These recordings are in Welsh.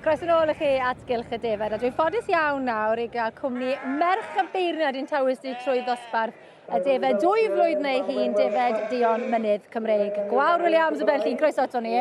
Croes yn ôl i chi at gylch y defaid, a dwi'n ffodus iawn nawr i gael cwmni merch y beirniad i'n tawys ni trwy ddosbarth y defaid dwy flwydd neu hun, defaid Dion Mynydd Cymreig. Gwawr Williams y Berllin, croeso ato ni.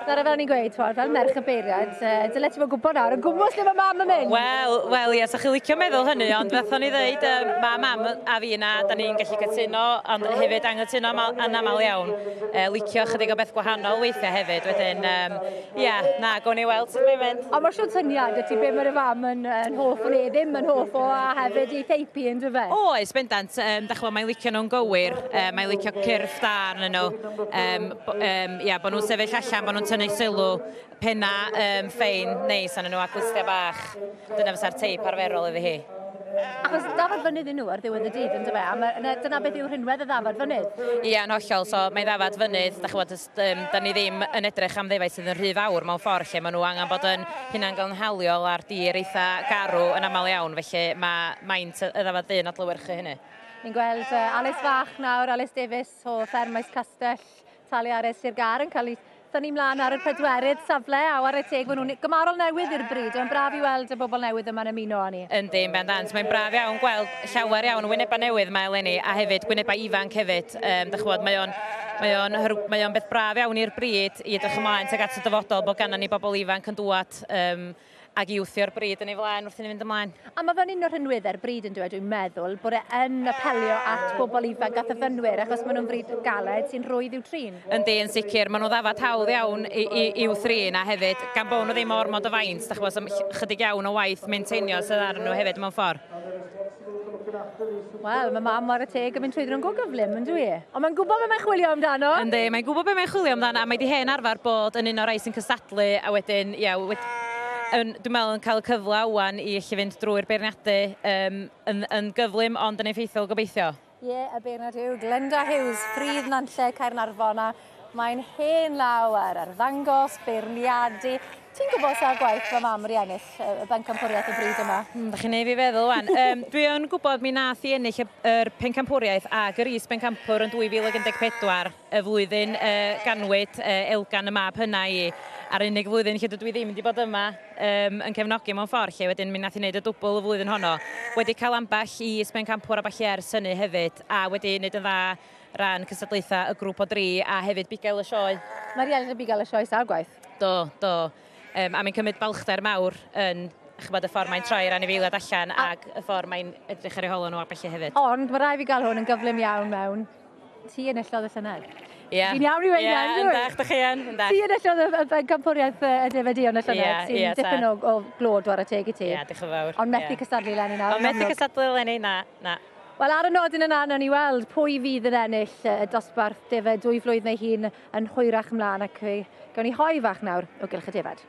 Dyna fel ni'n gweud, twod, fel merch y beirniad, dyle ti fod gwybod nawr, yn gwmwys lle mae mam yn mynd. Wel, wel, ie, sa chi licio meddwl hynny, ond fatho ni ddeud, um, mae mam a fi yna, da ni'n gallu cytuno, ond hefyd angytuno yn aml iawn. E, licio chydig o beth gwahanol weithiau hefyd, wedyn, um, Ie, yeah, na, gwn i weld sut mae'n mynd. Ond mae siwr syniad y ti be mae'r fam yn, yn hoff o le, ddim yn hoff o, a hefyd ei theipi yn dyfe? O, oes, bendant. Um, da chwa, mae'n licio nhw'n gywir, um, mae'n licio cyrff da arnyn nhw. Um, um, ia, bod nhw'n sefyll allan, bod nhw'n tynnu sylw, penna um, ffein neis arnyn nhw a glustia bach. Dyna fysa'r teip arferol iddi hi. Achos ddafod fynydd nhw ar ddiwedd y dydd, yn dyfe? A dyna beth yw rhinwedd y ddafod fynydd? Ia, yn hollol. So, mae ddafod fynydd, da chwa, Yym, 'da ni ddim yn edrych am ddefaid sydd yn rhy fawr mewn ffordd lle maen nhw angen bod yn hunangynhaliol a'r dir eitha garw yn aml iawn, felly mae maint y ddafad du'n adlewyrchu hynny. Ni'n gweld uh, Alys Fach nawr, Alys Davies o Fferm Maes Castell, Taliares Sir Gar yn cael ei Dyn ni mlaen ar y pedwerydd safle, a war y teg, maen nhw'n gymarol newydd i'r bryd. Mae'n braf i weld y bobl newydd yma'n ymuno â ni. Yndi, yn bendant. Mae'n braf iawn gweld llawer iawn o wynebau newydd mae eleni, a hefyd gwynebau ifanc hefyd. Cymreictod. Um, da chwbod, mae o'n mae o'n mae o'n beth braf iawn i'r bryd i edrych ymlaen tuag at y dyfodol bod ganna ni bobl ifanc yn dŵad um, ag i wthio'r bryd yn ei flaen wrth i ni fynd ymlaen. A mae fe'n un o'r rhinweddau'r bryd yn dweud, dwi'n meddwl, bod e yn apelio at bobl ifanc a thyfynwyr, achos maen nhw'n bryd galed sy'n rhwydd i'w trin. Yndi, yn sicr. Maen nhw ddafad hawdd iawn i'w thrin, a hefyd, gan bod nhw ddim o ormod o faint, da chybod, chydig iawn o waith maintainio sydd ar nhw hefyd mewn ffordd. Wel, mae mam ar y teg yn mynd trwy nhw'n go gyflym, yn dwi? Ond mae'n gwybod beth mae'n chwilio amdano. Yndi, mae'n gwybod beth mae'n chwilio amdano, a mae wedi hen arfer bod yn un o'r rhai sy'n cystadlu, a wedyn, ia, wedi, yn, dwi'n meddwl yn cael y cyfle awan i allu fynd drwy'r beirniadu um, yn, yn gyflym ond yn effeithiol gobeithio. Ie, yeah, y beirniad yw Glenda Hughes, Pridd Nantlle, Caernarfon, a mae'n hen law ar arddangos, beirniadu. Ti'n gwybod sa'r gwaith fy mam wedi ennill y bencampwriaeth y bryd yma? Mm, da chi'n ei fi feddwl wan. um, dwi yn gwybod mi nath i ennill yr pencampwriaeth ac yr is bencampwr yn 2014. y flwyddyn y ganwyd Elgan y mab hynna i, a'r unig flwyddyn lle dydw i ddim wedi bod yma yym yn cefnogi mewn ffordd 'lly, wedyn mi nath hi neud y dwbwl y flwyddyn honno. Wedi cael ambell i is-bencampwr a ballu ers hynny hefyd, a wedi neud yn dda ran cystadlaethau y grŵp o dri a hefyd bugail y sioe. Mae rhieni yn bugail y sioe sawl gwaith? Do, do. Yym a mae'n cymryd balchder mawr yn ch'bod y ffordd mae'n troi'r anifeiliad allan ac y ffordd mae'n edrych ar eu holo nhw a ballu hefyd. Ond mae rhaid fi gael hwn yn gyflym iawn mewn. Ti yn ellodd y llynedd. Yeah. Fi'n iawn i weud yeah, yn dweud. Yn da, chi yn. yn Ti yn ellodd y pencampwriaeth y defedion y llynedd yeah, sy'n yeah, dipyn o, o glod war y teg i ti. Ie, yeah, diolch yn fawr. Ond methu yeah. cystadlu lenni nawr. Ond methu cystadlu lenni, na, na. Wel, ar y nodyn yna, nawn ni weld pwy fydd yn ennill y dosbarth defa dwy flwydd neu hun yn hwyrach ymlaen ac gawn ni hoi fach nawr o gylch y defed.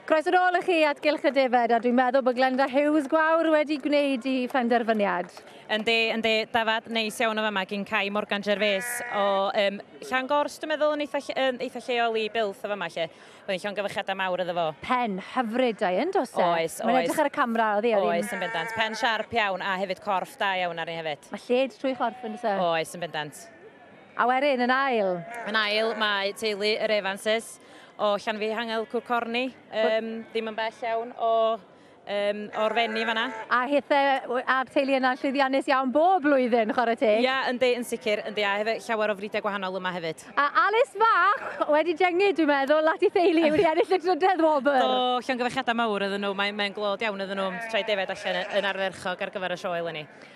Croeso nôl i chi at Gylch y Defaid, a dwi'n meddwl bod Glenda Hughes Gwawr wedi gwneud i phenderfyniad. Yndi, yndi, dafad neis iawn o fama gyn Cai Morgan Gervais o um, Llan Gors, dwi'n meddwl, yn eitha, yn eitha lleol i Bilth o fama lle. Byddai'n llon gyfychiadau mawr iddo fo. Pen hyfryd da yn dos e? Oes, oes. Mae'n edrych ar y camera, oedd hi? Oes, yn bendant. Pen siarp iawn, a hefyd corff da iawn ar ni hefyd. Mae lled trwy chorff yn dos e? Oes, yn bendant. A wedyn, yn ail? Yn ail, mae teulu yr Evanses. O Llanfihangel, Cwr Corni, um, ddim yn bell iawn o um, o'r fenni fanna. A hithe a'r teulu yna'n llwyddiannus iawn bob blwyddyn, chwarae teg? Ia, yn di, yn sicr, yn di, a hefyd llawer o fridau gwahanol yma hefyd. A Alice Fach wedi dyngu, dwi'n meddwl, at ei theulu wedi ennill y drydedd wobr. Do, llongyfechiadau mawr ydyn nhw, mae'n mae glod iawn ydyn nhw, trai defaid allan yn arferchog ar gyfer y sioe eleni.